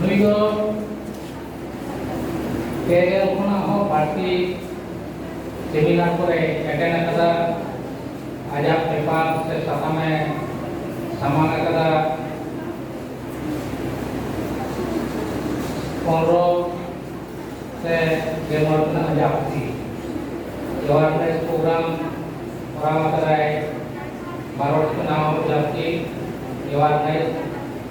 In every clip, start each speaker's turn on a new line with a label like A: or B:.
A: ᱱᱩᱭ ᱫᱚ ᱯᱮᱜᱮᱞ ᱠᱷᱚᱱᱟᱜ ᱦᱚᱸ ᱵᱟᱹᱲᱛᱤ ᱥᱮᱢᱤᱱᱟᱨ ᱠᱚᱨᱮ ᱮᱴᱮᱱ ᱟᱠᱟᱫᱟ ᱟᱡᱟᱜ ᱯᱮᱯᱟᱨ ᱥᱮ ᱥᱟᱛᱟᱢᱮ ᱥᱟᱢᱟᱝ ᱟᱠᱟᱫᱟ ᱯᱚᱱᱨᱚ ᱥᱮ ᱜᱮᱞᱢᱚᱬ ᱠᱷᱚᱱᱟᱜ ᱟᱡᱟᱜ ᱯᱩᱛᱷᱤ ᱡᱚᱣᱟᱨᱱᱮᱥ ᱯᱨᱳᱜᱨᱟᱢ ᱠᱚᱨᱟᱣ ᱟᱠᱟᱫᱟᱭ ᱵᱟᱨᱚᱴ ᱠᱷᱚᱱᱟᱜ ᱦᱚᱸ ᱡᱟᱹᱥᱛᱤ ᱡᱚᱣᱟᱨᱱᱮᱥ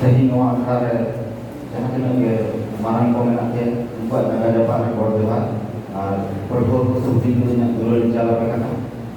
B: ᱛᱮᱦᱮᱧ ᱱᱚᱣᱟ ᱟᱠᱷᱲᱟ ᱨᱮ ᱡᱟᱦᱟᱸ ᱛᱤᱱᱟᱹᱜ ᱜᱮ ᱢᱟᱨᱟᱝ ᱠᱚ ᱢᱮᱱᱟᱜ ᱯᱮ ᱩᱱᱠᱩᱣᱟᱜ ᱡᱟᱸᱜᱟ ᱡᱟᱯᱟᱜ ᱨᱮ ᱜᱚᱰ ᱡᱚᱦᱟᱨ ᱟᱨ ᱯᱟᱹᱴᱷᱩᱣᱟᱹ ᱠᱚ ᱥᱮ ᱦᱩᱰᱤᱧ ᱦᱩᱰᱤᱧ ᱟᱜ ᱫᱩᱞᱟᱹᱲ ᱤᱧ ᱪᱟᱞ ᱟᱯᱮ ᱠᱟᱱᱟ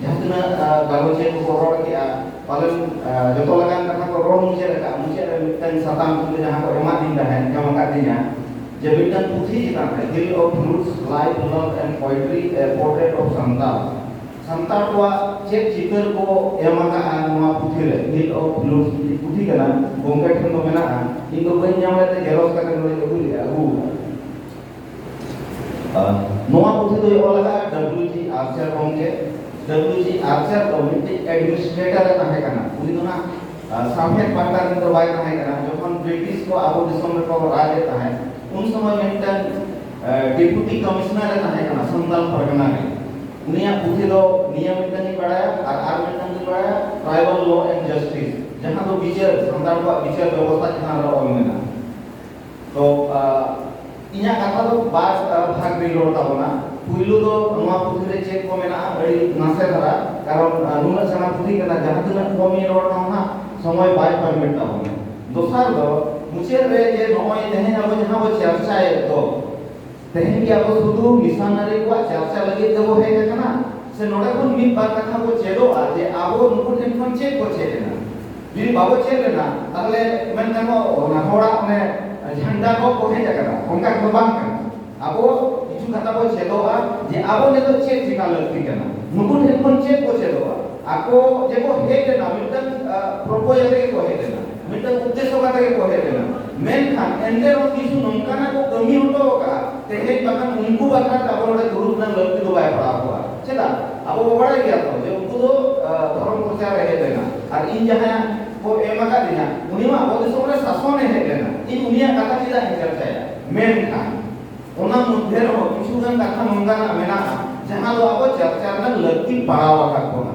B: ᱡᱟᱦᱟᱸ ᱛᱤᱱᱟᱹᱜ ᱜᱟᱞᱚᱪᱤᱭᱟᱹ ᱠᱚᱠᱚ ᱨᱚᱲ ᱠᱮᱜᱼᱟ ᱯᱟᱞᱮᱱ ᱡᱚᱛᱚ ᱞᱮᱠᱟᱱ ᱠᱟᱛᱷᱟ ᱠᱚ ᱨᱚᱲ ᱢᱩᱪᱟᱹᱫ ᱟᱠᱟᱫᱼᱟ ᱢᱩᱪᱟᱹᱫ ᱨᱮ ᱢᱤᱫᱴᱟᱝ ᱥᱟᱛᱟᱢ ᱠᱤᱱᱛᱩ ᱡᱟᱦᱟᱸ ᱠᱚ ᱮᱢᱟᱫᱤᱧ ᱛᱟᱦᱮᱸᱫ ᱧᱟᱢ ᱟᱠᱟᱫᱤᱧᱟ ᱡᱮ ᱢᱤᱫᱴᱟᱝ ᱯᱩᱛᱷᱤ ᱪᱮᱛᱟᱱ ᱨᱮ hill of roots life love and poetry a portrait of Santal Santal ᱠᱚᱣᱟᱜ ᱪᱮᱫ ᱪᱤᱛᱟᱹᱨ ᱠᱚ ᱮᱢ ᱟᱠᱟᱫᱼᱟ ᱱᱚᱣᱟ ᱯᱩᱛᱷᱤ ᱨᱮ ᱦᱤᱞ ᱚᱯᱷ ᱨᱩᱴᱥ ᱯᱩᱛᱷᱤ ᱠᱟᱱᱟ ᱜᱚᱝᱠᱮ ᱴᱷᱮᱱ ᱫᱚ ᱢᱮᱱᱟᱜᱼᱟ ᱤᱧ ᱫᱚ ᱵᱟᱹᱧ ᱧᱟᱢ ᱞᱮᱫ ᱛᱮ ᱡᱮᱨᱚᱠᱥ ᱠᱟᱛᱮ ᱱᱚᱰᱮᱧ ᱟᱹᱜᱩ ᱞᱮᱫᱼᱟ ᱟᱹᱜᱩ ᱟᱠᱟᱫᱼᱟ ᱱᱚᱣᱟ ᱯᱩᱛᱷᱤ ᱫᱚᱭ ᱚᱞ ᱟᱠᱟᱫᱟ ᱰᱟᱵᱞᱤᱭᱩ ᱡᱤ ᱟᱨᱪᱟᱨ ᱜᱚᱢᱠᱮ ᱰᱟᱵᱞᱤᱭᱩ ᱡᱤ ᱟᱨᱪᱟᱨ ᱫᱚ ᱢᱤᱫᱴᱤᱡ ᱮᱰᱢᱤᱱᱤᱥᱴᱨᱮᱴᱚᱨ ᱮ ᱛᱟᱦᱮᱸ ᱠᱟᱱᱟ ᱩᱱᱤ ᱫᱚ ᱦᱟᱸᱜ ᱥᱟᱶᱦᱮᱫ ᱯᱟᱦᱴᱟ ᱨᱮᱱ ᱫᱚ ᱵᱟᱭ ᱛᱟᱦᱮᱸ ᱠᱟᱱᱟ ᱡᱚᱠᱷᱚᱱ ᱵᱨᱤᱴᱤᱥ ᱠᱚ ᱟᱵᱚ ᱫᱤᱥᱚᱢ ᱨᱮᱠᱚ ᱨᱟᱡᱽ ᱮᱫ ᱛᱟᱦᱮᱸᱫ ᱩᱱ ᱥᱚᱢᱚᱭ ᱢᱤᱫᱴᱟᱝ ᱰᱮᱯᱩᱴᱤ ᱠᱚᱢᱤᱥᱚᱱᱟᱨ ᱮ ᱛᱟᱦᱮᱸ ᱠᱟᱱᱟ ᱥᱟᱱᱛᱟᱞ ᱯᱟᱨᱜᱟᱱᱟ ᱨᱮ ᱩᱱᱤᱭᱟᱜ ᱯᱩᱛᱷᱤ ᱫᱚ ᱱᱤᱭᱟᱹ ᱢᱤᱫᱴᱟᱝ ᱤᱧ ᱵᱟᱲᱟᱭᱟ ᱟᱨ ᱟᱨ ᱢᱤᱫᱴᱟᱝ ᱤᱧ ᱵᱟᱲᱟᱭᱟ ᱴᱨᱟᱭᱵᱟᱞ ᱞᱚ ᱮᱱᱰ ᱡᱟᱥᱴᱤᱥ ᱡᱟᱦᱟᱸ ᱫᱚ ᱵᱤᱪᱟᱹᱨ ᱥᱟᱱᱛᱟᱲ ᱠᱚᱣᱟᱜ ᱵᱤᱪᱟᱹᱨ ᱵᱮᱵᱚᱥᱛᱷᱟ ᱪᱮᱛᱟᱱ ᱨᱮ ᱚᱞ ᱢᱮᱱᱟᱜᱼᱟ ᱛᱚ ᱤᱧᱟᱹᱜ ᱠᱟᱛᱷᱟ ᱫᱚ ᱵᱟᱨ ᱵᱷᱟᱜᱽ ᱨᱮ ᱨᱚᱲ ᱛᱟᱵᱚᱱᱟ ᱯᱩᱭᱞᱩ ᱫᱚ ᱱᱚᱣᱟ ᱯᱩᱛᱷᱤ ᱨᱮ ᱪᱮᱫ ᱠᱚ ᱢᱮᱱᱟᱜᱼᱟ ᱟᱹᱰᱤ ᱱᱟᱥᱮ ᱫᱷᱟᱨᱟ ᱠᱟᱨᱚᱱ ᱱᱩᱱᱟᱹᱜ ᱥᱮᱬᱟ ᱯᱩᱛᱷᱤ ᱠᱟᱱᱟ ᱡᱟᱦᱟᱸ ᱛᱤᱱᱟᱹᱜ ᱠᱚᱢ ᱤᱧ ᱨᱚᱲ ᱨᱮᱦᱚᱸ ᱦᱟᱸᱜ ᱥᱚᱢᱚᱭ ᱵᱟᱭ ᱯᱟᱨᱢᱤᱴ ᱛᱟᱵᱚᱱᱟ ᱫᱚᱥᱟᱨ ᱫᱚ ᱢᱩᱪᱟᱹᱫ ᱨᱮ ᱡᱮ ᱱᱚᱜᱼᱚᱭ ᱛᱮᱦᱮᱧ ᱟᱵᱚ ᱡᱟᱦᱟᱸ ᱵᱚ ᱪᱟᱨᱪᱟᱭᱮᱫ ᱫᱚ ᱛᱮᱦᱮᱧ ᱜᱮ ᱟᱵᱚ ᱥᱩᱫᱷᱩ ᱢᱤᱥᱚᱱᱟᱨᱤ ᱠᱚᱣᱟᱜ ᱪᱟᱨᱪᱟ ᱞᱟᱹᱜᱤᱫ ᱛᱮᱵᱚ ᱦᱮᱡ ᱟᱠᱟᱱᱟ ᱥᱮ ᱱᱚᱰᱮ ᱠᱷᱚᱱ ᱢᱤᱫ ᱵᱟᱨ ᱠᱟᱛᱷᱟ ᱵᱚ ᱪᱮᱫᱚᱜᱼᱟ ᱡᱮ ᱟᱵᱚ ᱱᱩᱠᱩ ᱴᱷᱮᱱ ᱠᱷᱚᱱ ᱪᱮᱫ ᱵᱚ ᱪᱮᱫ ᱮᱱᱟ ᱡᱩᱫᱤ ᱵᱟᱵᱚ ᱪᱮᱫ ᱞᱮᱱᱟ ᱛᱟᱦᱚᱞᱮ ᱢᱮᱱ ᱜᱟᱱᱚᱜᱼᱟ ᱚᱱᱟ ᱦᱚᱲᱟᱜ ᱚᱱᱮ ᱡᱷᱟᱱᱰᱟ ᱠᱚ ᱠᱚ ᱦᱮᱡ ᱟᱠᱟᱱᱟ ᱚᱱᱠᱟ ᱫᱚ ᱵᱟᱝ ᱠᱟᱱᱟ ᱟᱵᱚ ᱠᱤᱪᱷᱩ ᱠᱟᱛᱷᱟ ᱵᱚ ᱪᱮᱫᱚᱜᱼᱟ ᱡᱮ ᱟᱵᱚ ᱱᱤᱛᱚᱜ ᱪᱮᱫ ᱪᱮᱠᱟ ᱞᱟᱹᱠᱛᱤ ᱠᱟᱱᱟ ᱱᱩᱠᱩ ᱴᱷᱮᱱ ᱠᱷᱚᱱ ᱪᱮᱫ ᱵᱚ ᱪᱮᱫᱚᱜᱼᱟ ᱟᱠᱚ ᱡᱮᱠᱚ ᱦᱮᱡ ᱞᱮᱱᱟ ᱢᱤᱫᱴᱟᱝ ᱯᱨᱚᱯᱳᱡᱟᱞ ᱛᱮᱜᱮ ᱠᱚ ᱦᱮᱡ ᱞᱮᱱᱟ ᱢᱤᱫᱴᱟᱝ ᱩᱫᱽᱫᱮᱥᱥᱚ ᱠᱟᱛᱮ ᱜᱮ ᱠᱚ ᱦᱮᱡ ᱞᱮᱱᱟ ᱢᱮᱱᱠᱷᱟᱱ ᱮᱱᱛᱮ ᱨᱮᱦᱚᱸ ᱠᱤᱪᱷᱩ ᱱᱚᱝᱠᱟᱱᱟᱜ ᱠᱚ ᱠᱟᱹᱢᱤ ᱦᱚᱴᱚ ᱟᱠᱟᱫᱼᱟ ᱛᱮᱦᱮᱧ ᱵᱟᱠᱷᱟᱱ ᱩᱱᱠᱩ ᱵᱟᱠᱷᱨᱟ ᱛᱮ ᱟᱵᱚ ᱱᱚᱰᱮ ᱫᱩᱲᱩᱵ ᱨᱮᱱᱟᱜ ᱞᱟᱹᱠᱛᱤ ᱫᱚ ᱵᱟᱭ ᱯᱟᱲᱟᱣ ᱠᱚᱜᱼᱟ ᱪᱮᱫᱟᱜ ᱟᱵᱚ ᱵᱚ ᱵᱟᱲᱟᱭ ᱜᱮᱭᱟ ᱛᱚ ᱡᱮ ᱩᱱᱠᱩ ᱫᱚ ᱫᱷᱚᱨᱚᱢ ᱯᱨᱚᱪᱟᱨ ᱨᱮ ᱦᱮᱡ ᱞᱮᱱᱟ ᱟᱨ ᱤᱧ ᱡᱟᱦᱟᱸᱭ ᱠᱚ ᱮᱢ ᱟᱠᱟᱫᱤᱧᱟ ᱩᱱᱤ ᱢᱟ ᱟᱵᱚ ᱫᱤᱥᱚᱢ ᱨᱮ ᱥᱟᱥᱚᱱ ᱮ ᱦᱮᱡ ᱞᱮᱱᱟ ᱤᱧ ᱩᱱᱤᱭᱟᱜ ᱠᱟᱛᱷᱟ ᱪᱮᱫᱟᱜ ᱤᱧ ᱪᱟᱨᱪᱟᱭᱟ ᱢᱮᱱᱠᱷᱟᱱ ᱚᱱᱟ ᱢᱚᱫᱽᱫᱷᱮ ᱨᱮᱦᱚᱸ ᱠᱤᱪᱷᱩ ᱜᱟᱱ ᱠᱟᱛᱷᱟ ᱱᱚᱝᱠᱟᱱᱟᱜ ᱢᱮᱱᱟᱜᱼᱟ ᱡᱟᱦᱟᱸ ᱫᱚ ᱟᱵᱚ ᱪᱟᱨᱪᱟ ᱨᱮᱱᱟᱜ ᱞᱟᱹᱠᱛᱤ ᱯᱟᱲᱟᱣ ᱟᱠᱟᱫ ᱵᱚᱱᱟ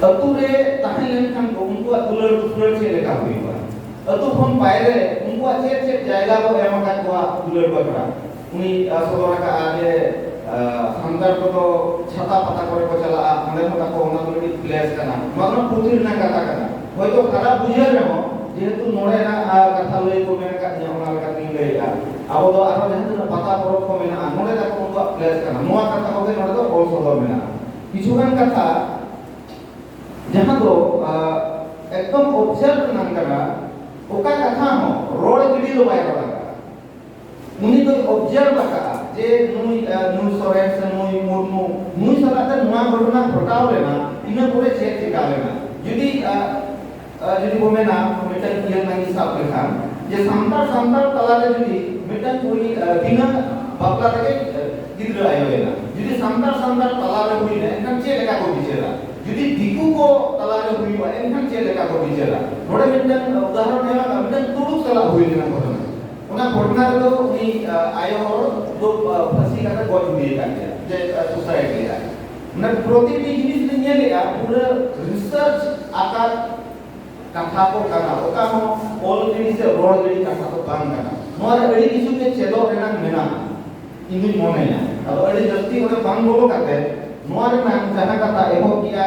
B: ᱟᱹᱛᱩ ᱨᱮ ᱛᱟᱦᱮᱸ ᱞᱮᱱᱠᱷᱟᱱ ᱠᱚ ᱩᱱᱠᱩᱣᱟᱜ ᱫᱩᱞᱟᱹᱲ ᱫᱩᱯᱞᱟᱹᱲ ᱪᱮᱫ ᱞᱮᱠᱟ ᱦᱩᱭᱩᱜᱼᱟ ᱟᱹᱛᱩ ᱠᱷᱚᱱ ᱵᱟᱭᱨᱮ ᱩᱱᱠᱩᱣᱟᱜ ᱪᱮᱫ ᱪᱮᱫ ᱡᱟᱭᱜᱟ ᱠᱚ ᱮᱢ ᱟᱠᱟᱫ ᱠᱚᱣᱟ ᱫᱩᱞᱟᱹᱲ ᱵᱟᱠᱷᱨᱟ ᱩᱱᱤ ᱥᱚᱫᱚᱨ ᱟᱠᱟᱫᱼᱟ ᱡᱮ ᱥᱟᱱᱛᱟᱲ ᱠᱚᱫᱚ ᱪᱷᱟᱛᱟ ᱯᱟᱛᱟ ᱠᱚᱨᱮ ᱠᱚ ᱪᱟᱞᱟᱜᱼᱟ ᱚᱸᱰᱮ ᱦᱚᱸ ᱛᱟᱠᱚ ᱚᱱᱟ ᱫᱚ ᱢᱤᱫᱴᱤᱡ ᱯᱞᱮᱥ ᱠᱟᱱᱟ ᱱᱚᱣᱟ ᱫᱚ ᱯᱩᱛᱷᱤ ᱨᱮᱱᱟᱜ ᱠᱟᱛᱷᱟ ᱠᱟᱱᱟ ᱦᱚᱭᱛᱳ ᱠᱷᱟᱨᱟᱯ ᱵᱩᱡᱷᱟᱹᱜ ᱨᱮᱦᱚᱸ ᱡᱮᱦᱮᱛᱩ ᱱᱚᱰᱮᱱᱟᱜ ᱠᱟᱛᱷᱟ ᱞᱟᱹᱭ ᱠᱚ ᱢᱮᱱ ᱟᱠᱟᱫ ᱛᱤᱧᱟ ᱚᱱᱟ ᱞᱮᱠᱟᱛᱤᱧ ᱞᱟᱹᱭᱮᱫᱼᱟ ᱟᱵᱚ ᱫᱚ ᱟᱨᱦᱚᱸ ᱡᱟᱦᱟᱸ ᱛᱤᱱᱟᱹᱜ ᱯᱟᱛᱟ ᱯᱚᱨᱚᱵᱽ ᱠᱚ ᱢᱮᱱᱟᱜᱼᱟ ᱱᱚᱰᱮ ᱛᱟᱠᱚ ᱩᱱᱠᱩᱣᱟᱜ ᱯᱞᱮᱥ ᱠᱟᱱᱟ ᱱᱚᱣᱟ ᱠᱟᱛᱷᱟ ᱠᱚᱜᱮ ᱱᱚᱰᱮ ᱫᱚ ᱚᱞ ᱥᱚᱫᱚᱨ ᱢᱮᱱᱟᱜᱼᱟ ᱠᱤᱪᱷᱩᱜᱟᱱ ᱠᱟᱛᱷᱟ ᱡᱟᱦᱟᱸ ᱫᱚ ᱮᱠᱫᱚᱢ ᱚᱵᱡᱟᱨᱵᱷ ᱨᱮᱱᱟᱜ ᱠᱟᱱᱟ ᱚᱠᱟ ᱠᱟᱛᱷᱟ ᱦᱚᱸ ᱨᱚᱲ ᱜᱤᱰᱤ ᱫᱚ ᱵᱟᱭ ᱨᱚᱲ ᱟᱠᱟᱫᱟ ᱩᱱᱤ ᱫᱚᱭ ᱚᱵᱡᱟᱨᱵᱷ ᱟᱠᱟᱫᱟ ᱡᱮ ᱱᱩᱭ ᱱᱩᱭ ᱥᱚᱨᱮᱱ ᱥᱮ ᱱᱩᱭ ᱢᱩᱨᱢᱩ ᱱᱩᱭ ᱥᱟᱞᱟᱜ ᱛᱮ ᱱᱚᱣᱟ ᱜᱷᱚᱴᱚᱱᱟ ᱜᱷᱚᱴᱟᱣ ᱞᱮᱱᱟ ᱤᱱᱟᱹ ᱯᱚᱨᱮ ᱪᱮᱫ ᱪᱮᱠᱟ ᱞᱮᱱᱟ ᱡᱩᱫᱤ ᱡᱩᱫᱤ ᱵᱚ ᱢᱮᱱᱟ ᱢᱤᱫᱴᱟᱝ ᱠᱩᱲᱤᱭᱟᱜ ᱱᱟᱝ ᱥᱟᱵ ᱞᱮᱠᱷᱟᱱ ᱡᱮ ᱥᱟᱱᱛᱟᱲ ᱥᱟᱱᱛᱟᱲ ᱛᱟᱞᱟᱨᱮ ᱡᱩᱫᱤ ᱢᱤᱫᱴᱟᱝ ᱠᱩᱲᱤ ᱵᱤᱱᱟᱹ ᱵᱟᱯᱞᱟ ᱛᱮᱜᱮ ᱜᱤᱫᱽᱨᱟᱹ ᱟᱭᱳᱭᱮᱱᱟ ᱡᱩᱫᱤ ᱥᱟᱱᱛᱟᱲ ᱥᱟᱱᱛᱟᱲ ᱛᱟᱞᱟᱨᱮ ᱦᱩᱭᱱᱟ ᱮᱱᱠᱷᱟᱱ ᱪᱮᱫ ᱞᱮᱠᱟ ᱠᱚ ᱵᱤᱪᱟᱹᱨᱟ ᱡᱩᱫᱤ ᱫᱤᱠᱩ ᱠᱚ ᱛᱟᱞᱟᱨᱮ ᱦᱩᱭᱩᱜᱼᱟ ᱮᱱᱠᱷᱟᱱ ᱪᱮᱫ ᱞᱮᱠᱟ ᱠᱚ ᱵᱤᱪᱟᱹᱨᱟ ᱱᱚᱰᱮ ᱢᱤᱫᱴᱟᱝ ᱩᱫᱟᱦᱚᱨᱚᱱ ᱧᱮᱞᱚᱜᱼᱟ ᱢᱤᱫᱴᱟᱝ ᱛᱩᱲᱩᱠ ᱥᱟᱞᱟᱜ ᱦᱩᱭ ᱞᱮᱱᱟ ᱜᱷᱚᱴᱚᱱᱟ ᱚᱱᱟ ᱜᱷᱚᱴᱚᱱᱟ ᱨᱮᱫᱚ ᱩᱱᱤ ᱟᱭᱳ ᱦᱚᱲ ᱫᱚ ᱯᱷᱟᱹᱥᱤ ᱠᱟᱛᱮ ᱜᱚᱡ ᱦᱩᱭ ᱟᱠᱟᱱ ᱛᱟᱭᱟ ᱡᱮ ᱥᱩᱥᱟᱭᱤᱰ ᱞᱮᱫᱟᱭ ᱚᱱᱟ ᱯᱨᱚᱛᱤᱴᱤ ᱡᱤᱱᱤᱥ ᱞᱮ ᱧᱮᱞᱮᱜᱼᱟ ᱯᱩᱨᱟᱹ ᱨᱤᱥᱟᱨᱪ ᱟᱠᱟᱫ ᱠᱟᱛᱷᱟ ᱠᱚ ᱠᱟᱱᱟ ᱚᱠᱟ ᱦᱚᱸ ᱚᱞ ᱜᱤᱰᱤ ᱥᱮ ᱨᱚᱲ ᱜᱤᱰᱤ ᱠᱟᱛᱷᱟ ᱫᱚ ᱵᱟᱝ ᱠᱟᱱᱟ ᱱᱚᱣᱟ ᱨᱮ ᱟᱹᱰᱤ ᱠᱤᱪᱷᱩ ᱜᱮ ᱪᱮᱫᱚᱜ ᱨᱮᱱᱟᱜ ᱢᱮᱱᱟᱜᱼᱟ ᱤᱧ ᱢᱚᱱᱮᱭᱟ ᱟᱫᱚ ᱟᱹᱰᱤ ᱡᱟᱹᱥᱛᱤ ᱚᱸᱰᱮ ᱵᱟᱝ ᱵᱚᱞᱚ ᱠᱟᱛᱮ ᱱᱚᱣᱟ ᱨᱮᱱᱟᱜ ᱡᱟᱦᱟᱸ ᱠᱟᱛᱷᱟ ᱮᱦᱚᱵ ᱠᱮᱜᱼᱟ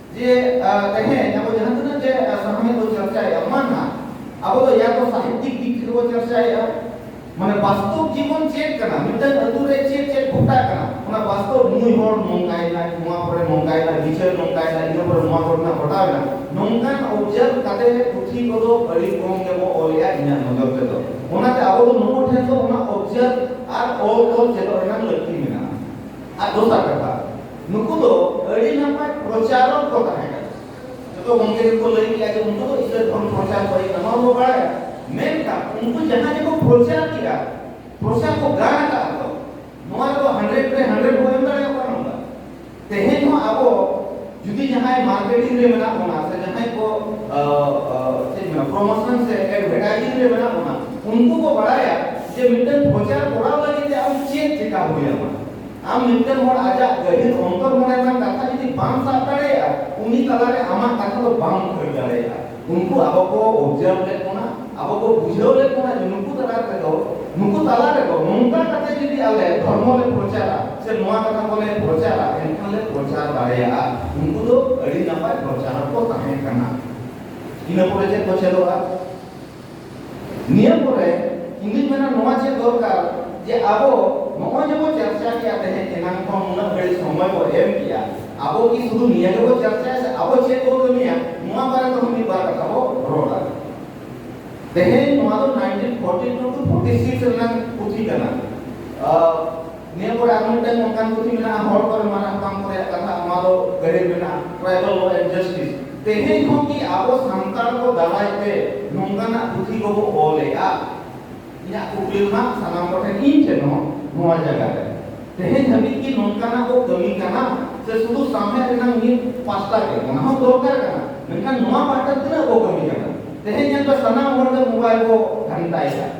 B: ᱡᱮ ᱛᱮᱦᱮᱧ ᱟᱵᱚ ᱡᱟᱦᱟᱸ ᱛᱤᱱᱟᱹᱜ ᱜᱮ ᱥᱟᱶᱦᱮᱫ ᱵᱚ ᱪᱟᱨᱪᱟᱭᱟ ᱚᱱᱟ ᱱᱟᱜ ᱟᱵᱚ ᱫᱚ ᱭᱟ ᱛᱚ ᱥᱟᱦᱤᱛᱭᱤᱠ ᱫᱤᱠ ᱛᱷᱮᱠᱮ ᱵᱚ ᱪᱟᱨᱪᱟᱭᱟ ᱢᱟᱱᱮ ᱵᱟᱥᱛᱚᱵ ᱡᱤᱵᱚᱱ ᱪᱮᱫ ᱠᱟᱱᱟ ᱢᱤᱫᱴᱟᱝ ᱟᱹᱛᱩ ᱨᱮ ᱪᱮᱫ ᱪᱮᱫ ᱜᱷᱚᱴᱟᱜ ᱠᱟᱱᱟ ᱚᱱᱟ ᱵᱟᱥᱛᱚᱵ ᱱᱩᱭ ᱦᱚᱲ ᱱᱚᱝᱠᱟᱭᱮᱱᱟ ᱱᱚᱣᱟ ᱠᱚᱨᱮ ᱱᱚᱝᱠᱟᱭᱮᱱᱟ ᱵᱤᱪᱟᱹᱨ ᱱᱚᱝᱠᱟᱭᱮᱱᱟ ᱤᱱᱟᱹ ᱯᱚᱨᱮ ᱱᱚᱣᱟ ᱠᱚᱨᱮᱱᱟᱜ ᱜᱷᱚᱴᱟᱣᱮᱱᱟ ᱱᱚᱝᱠᱟᱱ ᱚᱵᱡᱟᱨᱵᱷ ᱠᱟᱛᱮ ᱯᱩᱛᱷᱤ ᱠᱚᱫᱚ ᱟᱹᱰᱤ ᱠᱚᱢ ᱜᱮᱵᱚ ᱚᱞᱮᱜᱼᱟ ᱤᱧᱟᱹᱜ ᱱᱚᱡᱚᱨ ᱛᱮᱫᱚ ᱚᱱᱟᱛᱮ ᱟᱵᱚ ᱫᱚ ᱱᱩᱠᱩ ᱴᱷᱮᱱ ᱫᱚ ᱚᱱᱟ ᱚᱵᱡᱟᱨᱵᱷ ᱟᱨ ᱚᱞ ᱛᱚᱞ ᱪᱮᱫᱚᱜ ᱨᱮᱱᱟᱜ ᱞᱟᱹᱠᱛᱤ ᱢᱮᱱᱟᱜᱼᱟ ᱟᱨ ᱫᱚᱥᱟᱨ ᱠᱟᱛᱷᱟ ᱱᱩᱠᱩ ᱫᱚ ᱟᱹᱰᱤ ᱱᱟᱯᱟᱭ ᱯᱨᱚᱪᱟᱨᱚᱠ ᱠᱚ ᱛᱟᱦᱮᱸ ᱠᱟᱱᱟ ᱡᱚᱛᱚ ᱜᱚᱢᱠᱮ ᱠᱚ ᱞᱟᱹᱭ ᱠᱮᱫᱟ ᱡᱮ ᱩᱱᱠᱩ ᱫᱚ ᱤᱥᱞᱟᱢ ᱫᱷᱚᱨᱚᱢ ᱯᱨᱚᱪᱟᱨ ᱠᱚ ᱦᱮᱡ ᱱᱚᱣᱟ ᱵᱚ ᱵᱟᱲᱟᱭᱟ ᱢᱮᱱᱠᱷᱟᱱ ᱩᱱᱠᱩ ᱡᱟᱦᱟᱸ ᱜᱮᱠᱚ ᱯᱨᱚᱪᱟᱨ ᱠᱮᱫᱟ ᱯᱨᱚᱪᱟᱨ ᱠᱚ ᱜᱟᱱ ᱟᱠᱟᱫ ᱠᱚ ᱱᱚᱣᱟ ᱫᱚ ᱦᱟᱱᱰᱨᱮᱰ ᱨᱮ ᱦᱟᱱᱰᱨᱮᱰ ᱵᱚ ᱮᱢ ᱫᱟᱲᱮᱭᱟᱜ ᱠᱟᱱᱟ ᱱᱚᱝᱠᱟ ᱛᱮᱦᱮᱧ ᱦᱚᱸ ᱟᱵᱚ ᱡᱩᱫᱤ ᱡᱟᱦᱟᱸᱭ ᱢᱟᱨᱠᱮᱴᱤᱝ ᱨᱮ ᱢᱮᱱᱟᱜ ᱵᱚᱱᱟ ᱥᱮ ᱡᱟᱦᱟᱸᱭ ᱠᱚ ᱪᱮᱫ ᱢᱮᱱᱟ ᱯᱨᱚᱢᱳᱥᱚᱱ ᱥᱮ ᱮᱰᱵᱷᱮᱴᱟᱭᱡᱤᱝ ᱨᱮ ᱢᱮᱱᱟᱜ ᱵᱚᱱᱟ ᱩᱱᱠᱩ ᱠᱚ ᱵᱟᱲᱟᱭᱟ ᱡᱮ ᱢᱤᱫᱴᱮᱱ ᱯᱨᱚᱪᱟᱨ ᱠᱚᱨᱟᱣ ᱞᱟᱹᱜᱤᱫ ᱛᱮ ᱟᱢ ᱪᱮᱫ ᱪᱮᱠᱟ ᱦᱩᱭᱟᱢᱟ ᱟᱢ ᱢᱤᱫᱴᱟᱝ ᱦᱚᱲ ᱟᱡᱟᱜ ᱜᱟᱹᱦᱤᱨ ᱚᱱᱛᱚᱨ ᱢᱚᱱᱮ ᱨᱮᱱᱟᱜ ᱠᱟᱛᱷᱟ ᱡᱩᱫᱤ ᱵᱟᱢ ᱥᱟᱵ ᱫᱟᱲᱮᱭᱟᱜᱼᱟ ᱩᱱᱤ ᱛᱟᱞᱟᱨᱮ ᱟᱢᱟᱜ ᱠᱟᱛᱷᱟ ᱫᱚ ᱵᱟᱢ ᱩᱭᱦᱟᱹᱨ ᱫᱟᱲᱮᱭᱟᱜᱼᱟ ᱩᱱᱠᱩ ᱟᱵᱚ ᱠᱚ ᱚᱵᱡᱟᱨᱵ ᱞᱮᱫ ᱵᱚᱱᱟ ᱟᱵᱚ ᱠᱚ ᱵᱩᱡᱷᱟᱹᱣ ᱞᱮᱫ ᱵᱚᱱᱟ ᱡᱮ ᱱᱩᱠᱩ ᱛᱟᱞᱟ ᱨᱮᱫᱚ ᱱᱩᱠᱩ ᱛᱟᱞᱟ ᱨᱮᱫᱚ ᱱᱚᱝᱠᱟ ᱠᱟᱛᱮ ᱡᱩᱫᱤ ᱟᱞᱮ ᱫᱷᱚᱨᱢᱚ ᱞᱮ ᱯᱨᱚᱪᱟᱨᱟ ᱥᱮ ᱱᱚᱣᱟ ᱠᱟᱛᱷᱟ ᱠᱚᱞᱮ ᱯᱨᱚᱪᱟᱨᱟ ᱮᱱᱠᱷᱟᱱ ᱞᱮ ᱯᱨᱚᱪᱟᱨ ᱫᱟᱲᱮᱭᱟᱜᱼᱟ ᱩᱱᱠᱩ ᱫᱚ ᱟᱹᱰᱤ ᱱᱟᱯᱟᱭ ᱯᱨᱚᱪᱟᱨᱚᱠ ᱠᱚ ᱛᱟᱦᱮᱸ ᱠᱟᱱᱟ ᱤᱱᱟᱹ ᱯᱚᱨᱮ ᱪᱮᱫ ᱠᱚ ᱪᱮᱫᱚᱜᱼᱟ ᱱᱤᱭᱟᱹ ᱯᱚᱨᱮ ᱤᱧᱫᱩᱧ ᱢᱮᱱᱟ ᱱᱚᱣᱟ ᱪᱮᱫ ᱫᱚᱨᱠᱟᱨ ᱡᱮ ᱟᱵᱚ ᱱᱚᱜᱼᱚᱭ ᱡᱮᱵᱚ ᱪᱟᱨᱪᱟ ᱠᱮᱜᱼᱟ ᱛᱮᱦᱮᱧ ᱮᱱᱟᱝ ᱠᱷᱚᱱ ᱩᱱᱟᱹᱜ ᱜᱷᱟᱹᱲᱤᱡ ᱥᱚᱢᱚᱭ ᱵᱚ ᱮᱢ ᱠᱮᱜᱼᱟ ᱟᱵᱚ ᱠᱤ ᱥᱩᱫᱷᱩ ᱱᱤᱭᱟᱹ ᱜᱮᱵᱚ ᱪᱟᱨᱪᱟᱭᱟ ᱥᱮ ᱟᱵᱚ ᱪᱮᱫ ᱵᱚ ᱠᱟᱹᱢᱤᱭᱟ ᱱᱚᱣᱟ ᱵᱟᱨᱮ ᱛᱮᱦᱚᱸ ᱢᱤᱫ ᱵᱟᱨ ᱠᱟᱛᱷᱟ ᱵᱚ ᱨᱚᱲᱟ ᱛᱮᱦᱮᱧ ᱱᱚᱣᱟ ᱫᱚ 1942 ᱴᱩ 46 ᱨᱮᱱᱟᱜ ᱯᱩᱛᱷᱤ ᱠᱟᱱᱟ ᱱᱤᱭᱟᱹ ᱠᱚᱨᱮ ᱟᱨ ᱢᱤᱫᱴᱟᱝ ᱚᱱᱠᱟᱱ ᱯᱩᱛᱷᱤ ᱢᱮᱱᱟᱜᱼᱟ ᱦᱚᱲ ᱠᱚᱨᱮ ᱢᱟᱨᱟᱝ ᱠᱟᱢ ᱠᱚᱨᱮ ᱠᱟᱛᱷᱟ ᱚᱱᱟ ᱫᱚ ᱜᱟᱹᱲᱤ ᱢᱮᱱᱟᱜᱼᱟ ᱴᱨᱟᱭᱵᱟᱞ ᱞᱚ ᱮᱱᱰ ᱡᱟᱥᱴᱤᱥ ᱛᱮᱦᱮᱧ ᱦᱚᱸ ᱠᱤ ᱟᱵᱚ ᱥᱟᱱᱛᱟᱲ ᱠᱚ ᱫᱟᱨᱟᱭ ᱛᱮ ᱱᱚᱝᱠᱟᱱᱟᱜ ᱯᱩᱛᱷᱤ ᱠᱚᱵᱚ ᱚᱞᱮᱜᱼᱟ ᱤᱧᱟᱹᱜ ᱠᱩᱠᱞᱤ ᱢᱟ ᱥᱟᱱᱟᱢ ᱠᱚᱴᱷᱮᱱ ᱤᱧ ᱴᱷᱮᱱ ᱦᱚᱸ ᱱᱚᱣᱟ ᱡᱟᱭᱜᱟ ᱨᱮ ᱛᱮᱦᱮᱧ ᱫᱷᱟᱹᱵᱤᱡ ᱠᱤ ᱱᱚᱝᱠᱟᱱᱟᱜ ᱠᱚ ᱠᱟᱹᱢᱤ ᱠᱟᱱᱟ ᱥᱮ ᱥᱩᱫᱷᱩ ᱥᱟᱶᱦᱮᱫ ᱨᱮᱱᱟᱜ ᱢᱤᱫ ᱯᱟᱥᱴᱟ ᱜᱮ ᱚᱱᱟ ᱦᱚᱸ ᱫᱚᱨᱠᱟᱨ ᱠᱟᱱᱟ ᱢᱮᱱᱠᱷᱟᱱ ᱱᱚᱣᱟ ᱯᱟᱦᱴᱟ ᱛᱤᱱᱟᱹᱜ ᱠᱚ ᱠᱟᱹᱢᱤ ᱠᱟᱱᱟ ᱛᱮᱦᱮᱧ ᱧᱮᱞ ᱯᱮ ᱥᱟᱱᱟᱢ ᱦᱚᱲ ᱜᱮ ᱢᱳᱵᱟᱭᱤᱞ ᱠᱚ ᱜᱷᱟᱱᱴᱟᱭᱮᱫᱟ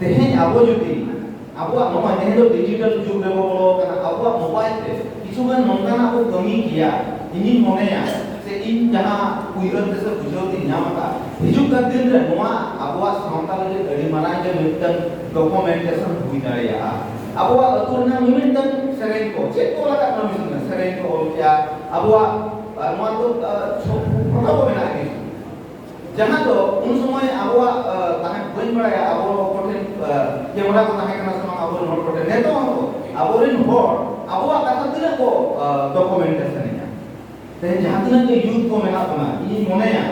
B: ᱛᱮᱦᱮᱧ ᱟᱵᱚ ᱡᱩᱫᱤ ᱟᱵᱚᱣᱟᱜ ᱱᱚᱣᱟ ᱡᱮᱦᱮᱛᱩ ᱰᱤᱡᱤᱴᱟᱞ ᱡᱩᱜᱽ ᱨᱮ ᱵᱚ ᱵᱚᱞᱚ ᱟᱠᱟᱱᱟ ᱟᱵᱚᱣᱟᱜ ᱢᱳᱵᱟᱭᱤᱞ ᱛᱮ ᱠᱤᱪᱷᱩ ᱜᱟᱱ ᱱᱚᱝᱠᱟᱱᱟᱜ ᱵᱚ ᱠᱟᱹᱢᱤ ᱠᱮᱭᱟ ᱤᱧᱤᱧ ᱢᱚᱱᱮᱭᱟ ᱥᱮ ᱤᱧ ᱡᱟᱦᱟᱸ ᱩᱭᱦᱟᱹᱨ ᱛᱮ ᱥᱮ ᱵᱩᱡᱷᱟᱹᱣ ᱛᱤᱧ ᱧᱟᱢ ᱟᱠᱟᱫᱟ ᱦᱤᱡᱩᱜ ᱠᱟᱱ ᱫᱤᱱ ᱨᱮ ᱱᱚᱣᱟ ᱟᱵᱚᱣᱟᱜ ᱥᱟᱶᱛᱟ ᱞᱟᱹᱜᱤᱫ ᱟᱹᱰᱤ ᱢᱟᱨᱟᱝ ᱜᱮ ᱢᱤᱫᱴᱟᱝ ᱰᱚᱠᱩᱢᱮᱱᱴᱮᱥᱚᱱ ᱦᱩᱭ ᱫᱟᱲᱮᱭᱟᱜᱼᱟ ᱟᱵᱚᱣᱟᱜ ᱟᱹᱛᱩ ᱨᱮᱱᱟᱜ ᱢᱤᱢᱤᱫᱴᱟᱝ ᱥᱮᱨᱮᱧ ᱠᱚ ᱪᱮᱫ ᱠᱚ ᱞᱟᱜᱟᱜ ᱠᱟᱱᱟ ᱢᱤᱫᱴᱟᱝ ᱥᱮᱨᱮᱧ ᱠᱚ ᱚᱞ ᱠᱮᱭᱟ ᱟᱵᱚᱣᱟᱜ ᱱᱚᱣᱟ ᱫᱚ ᱯᱷᱳᱴᱳ ᱠᱚ ᱢᱮᱱᱟᱜᱼᱟ ᱡᱟᱦᱟᱸ ᱫᱚ ᱩᱱ ᱥᱚᱢᱚᱭ ᱟᱵᱚᱣᱟᱜ ᱛᱟᱦᱮᱸ ᱵᱟᱹᱧ ᱵᱟᱲᱟᱭᱟ ᱟᱵᱚ ᱠᱚᱴᱷᱮᱱ ᱠᱮᱢᱮᱨᱟ ᱠᱚ ᱛᱟᱦᱮᱸ ᱠᱟᱱᱟ ᱥᱮ ᱵᱟᱝ ᱟᱵᱚᱨᱮᱱ ᱦᱚᱲ ᱠᱚᱴᱷᱮᱱ ᱱᱤᱛᱚᱜ ᱦᱚᱸ ᱟᱵᱚᱨᱮᱱ ᱦᱚᱲ ᱟᱵᱚᱣᱟᱜ ᱠᱟᱛᱷᱟ ᱛᱤᱱᱟᱹᱜ ᱠᱚ ᱰᱚᱠᱩᱢᱮᱱᱴᱮᱥᱚᱱ ᱮᱫᱟ ᱛᱮᱦᱮᱧ ᱡᱟᱦᱟᱸ ᱛᱤᱱᱟᱹᱜ ᱜᱮ ᱭᱩᱛᱷ ᱠᱚ ᱢᱮᱱᱟᱜ ᱵᱚᱱᱟ ᱤᱧᱤᱧ ᱢᱚᱱᱮᱭᱟ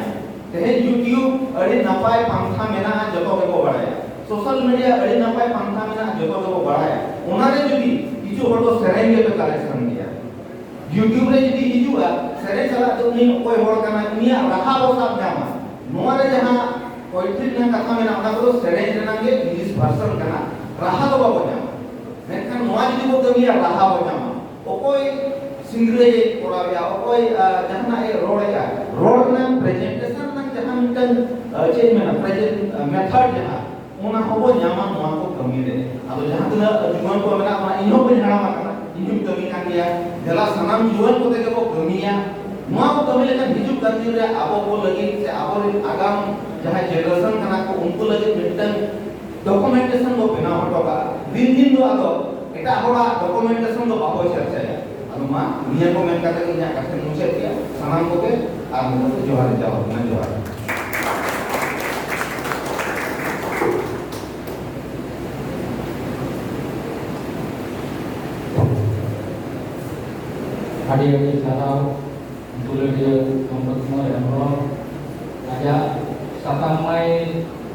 B: ᱛᱮᱦᱮᱧ ᱭᱩᱴᱤᱭᱩᱵᱽ ᱟᱹᱰᱤ ᱱᱟᱯᱟᱭ ᱯᱟᱱᱛᱷᱟ ᱢᱮᱱᱟᱜᱼᱟ ᱡᱚᱛᱚ ᱜᱮᱠᱚ ᱵᱟᱲᱟᱭᱟ ᱥᱳᱥᱟᱞ ᱢᱤᱰᱤᱭᱟ ᱟᱹᱰᱤ ᱱᱟᱯᱟᱭ ᱯᱟᱱᱛᱷᱟ ᱢᱮᱱᱟᱜᱼᱟ ᱡᱚᱛᱚ ᱜᱮᱠᱚ ᱵᱟᱲᱟᱭᱟ ᱚᱱᱟᱨᱮ ᱡᱩᱫᱤ ᱠᱤᱪᱷᱩ ᱦᱚᱲ ᱫᱚ ᱥᱮᱨᱮᱧ ᱜᱮᱯᱮ ᱠᱟᱞᱮᱠᱥᱚᱱ ᱭᱩᱴᱭᱩᱵᱽ ᱨᱮ ᱡᱩᱫᱤ ᱦᱤᱡᱩᱜᱼᱟ ᱥᱮᱨᱮᱧ ᱥᱟᱞᱟᱜ ᱛᱮ ᱩᱱᱤ ᱚᱠᱚᱭ ᱦᱚᱲ ᱠᱟᱱᱟᱭ ᱩᱱᱤᱭᱟᱜ ᱨᱟᱦᱟ ᱵᱚ ᱥᱟᱵ ᱧᱟᱢᱟ ᱱᱚᱣᱟ ᱨᱮ ᱡᱟᱦᱟᱸ ᱯᱚᱭᱮᱴᱨᱤ ᱨᱮᱱᱟᱜ ᱠᱟᱛᱷᱟ ᱢᱮᱱᱟᱜᱼᱟ ᱚᱱᱟ ᱠᱚᱫᱚ ᱥᱮᱨᱮᱧ ᱨᱮᱱᱟᱜ ᱜᱮ ᱤᱝᱞᱤᱥ ᱵᱷᱟᱨᱥᱚᱱ ᱠᱟᱱᱟ ᱨᱟᱦᱟ ᱫᱚ ᱵᱟᱵᱚ ᱧᱟᱢᱟ ᱢᱮᱱᱠᱷᱟᱱ ᱱᱚᱣᱟ ᱡᱩᱫᱤ ᱵᱚ ᱠᱟᱹᱢᱤᱭᱟ ᱨᱟᱦᱟ ᱵᱚ ᱧᱟᱢᱟ ᱚᱠᱚᱭ ᱥᱤᱝᱨᱟᱹᱭ ᱠᱚᱨᱟᱣᱮᱫᱼᱟ ᱚᱠᱚᱭ ᱡᱟᱦᱟᱱᱟᱜ ᱮ ᱨᱚᱲᱮᱫᱼᱟ ᱨᱚᱲ ᱨᱮᱱᱟᱜ ᱯᱨᱮᱡᱮᱱᱴᱮᱥᱚᱱ ᱨᱮᱱᱟᱜ ᱡᱟᱦᱟᱸ ᱢᱤᱫᱴᱟᱝ ᱪᱮᱫ ᱢᱮᱱᱟ ᱯᱨᱮᱡᱮᱱᱴ ᱢᱮᱛᱷᱚᱰ ᱡᱟᱦᱟᱸ ᱚᱱᱟ ᱠᱚᱵᱚ ᱧᱟᱢᱟ ᱱᱚᱣᱟ ᱠᱚ ᱠᱟᱹᱢᱤ ᱨᱮ ᱟᱫᱚ ᱡᱟᱦᱟᱸ ᱛᱤᱱᱟᱹᱜ ᱡᱩᱣᱟᱹᱱ ᱠᱚ ᱢᱮᱱᱟᱜ ᱵᱚᱱᱟ ᱤᱧ ᱦᱚᱸ ᱵᱟᱹᱧ ᱦᱟᱲᱟᱢ ᱟᱠᱟᱱᱟ ᱤᱧ ᱦᱚᱸᱧ ᱠᱟᱹᱢᱤ ᱠᱟᱱ ᱜᱮᱭᱟ ᱫᱮᱞᱟ ᱥᱟᱱᱟᱢ ᱡᱩᱣᱟᱹᱱ ᱠᱚᱛᱮ ᱜᱮᱵᱚ ᱠᱟᱹᱢᱤᱭᱟ ᱱᱚᱣᱟ ᱠᱚ ᱠᱟᱹᱢᱤ ᱞᱮᱠᱷᱟᱱ ᱦᱤᱡᱩᱜ ᱠᱟᱱ ᱫᱤᱱ ᱨᱮ ᱟᱵᱚ ᱠᱚ ᱞᱟᱹᱜᱤᱫ ᱥᱮ ᱟᱵᱚᱨᱮᱱ ᱟᱜᱟᱢ ᱡᱟᱦᱟᱸ ᱡᱮᱱᱟᱨᱮᱥᱚᱱ ᱠᱟᱱᱟ ᱠᱚ ᱩᱱᱠᱩ ᱞᱟᱹᱜᱤᱫ ᱢᱤᱫᱴᱟᱝ ᱰᱚᱠᱩᱢᱮᱱᱴᱮᱥᱚᱱ ᱵᱚ ᱵᱮᱱᱟᱣ ᱦᱚᱴᱚ ᱠᱟᱜᱼᱟ ᱫᱤᱱ ᱫᱤᱱ ᱫᱚ ᱟᱫᱚ ᱮᱴᱟᱜ ᱦᱚᱲᱟᱜ ᱰᱚᱠᱩᱢᱮᱱᱴᱮᱥᱚᱱ ᱫᱚ ᱵᱟᱵᱚ ᱪᱟᱨᱪᱟᱭᱟ ᱟᱫᱚ ᱢᱟ ᱱᱤᱭᱟᱹ ᱠᱚ ᱢᱮᱱ ᱠᱟᱛᱮ ᱤᱧᱟᱹᱜ ᱠᱟᱛᱷᱟᱧ ᱢᱩᱪᱟᱹᱫ ᱠᱮᱫᱟ ᱥᱟᱱᱟᱢ ᱠᱚᱜᱮ ᱟᱨ ᱢᱤᱫ ᱫᱷᱟᱣ ᱡᱚᱦᱟᱨ ᱡᱚᱦᱟᱨ ᱢᱟ ᱡᱚᱦᱟᱨ
A: ᱟᱹᱰᱤ ᱟᱹᱰᱤ ᱥᱟᱨᱦᱟᱣ ᱫᱩᱞᱟᱹᱲᱤᱭᱟᱹ ᱢᱚᱱᱳᱡᱽ ᱠᱩᱢᱟᱨ ᱦᱮᱢᱵᱨᱚᱢ ᱟᱡᱟᱜ ᱥᱟᱛᱟᱢ ᱢᱟᱭ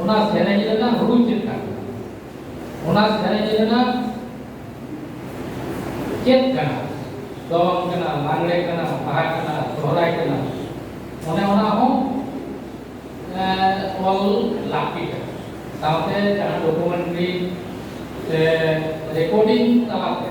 A: ᱚᱱᱟ ᱥᱮᱨᱮᱧ ᱨᱮᱱᱟᱜ ᱨᱩ ᱪᱮᱫ ᱠᱟᱱᱟ ᱚᱱᱟ ᱥᱮᱨᱮᱧ ᱨᱮᱱᱟᱜ ᱪᱮᱫ ᱠᱟᱱᱟ ᱫᱚᱝ ᱠᱟᱱᱟ ᱞᱟᱜᱽᱲᱮ ᱠᱟᱱᱟ ᱵᱟᱦᱟ ᱠᱟᱱᱟ ᱥᱚᱦᱨᱟᱭ ᱠᱟᱱᱟ ᱚᱱᱮ ᱚᱱᱟ ᱦᱚᱸ ᱚᱞ ᱞᱟᱹᱠᱛᱤ ᱠᱟᱱᱟ ᱥᱟᱶᱛᱮ ᱡᱟᱦᱟᱸ ᱰᱚᱠᱩᱢᱮᱱᱴᱨᱤ ᱥᱮ ᱨᱮᱠᱳᱰᱤᱝ ᱛᱟᱞᱟᱛᱮ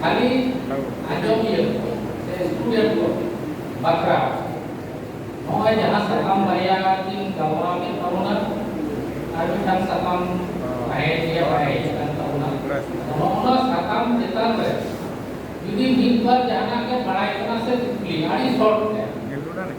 A: ᱠᱷᱟᱹᱞᱤ ᱟᱸᱡᱚᱢᱤᱭᱟᱹ ᱥᱮ ᱥᱴᱩᱰᱮᱱᱴ ᱠᱚ ᱵᱟᱠᱷᱨᱟ ᱱᱚᱜᱼᱚᱭ ᱡᱟᱦᱟᱸ ᱥᱟᱠᱟᱢ ᱵᱟᱨᱭᱟ ᱠᱤᱱ ᱜᱟᱞᱢᱟᱨᱟᱣ ᱠᱮᱫ ᱛᱟᱵᱚᱱᱟ ᱟᱨ ᱢᱤᱫᱴᱟᱝ ᱥᱟᱠᱟᱢ ᱵᱟᱭ ᱜᱮᱭᱟ ᱵᱟᱭ ᱦᱮᱡ ᱟᱠᱟᱱ ᱛᱟᱵᱚᱱᱟ ᱱᱚᱜᱼᱚᱱᱟ ᱥᱟᱠᱟᱢ ᱪᱮᱛᱟᱱ ᱨᱮ ᱡᱩᱫᱤ ᱢᱤᱫ ᱵᱟᱨ ᱡᱟᱦᱟᱱᱟᱜ ᱜᱮ ᱵᱟᱲᱟᱭ ᱠᱟᱱᱟ ᱥᱮ ᱠᱩᱠᱞᱤ ᱟᱹᱰᱤ ᱥᱚᱨᱴ ᱛᱮ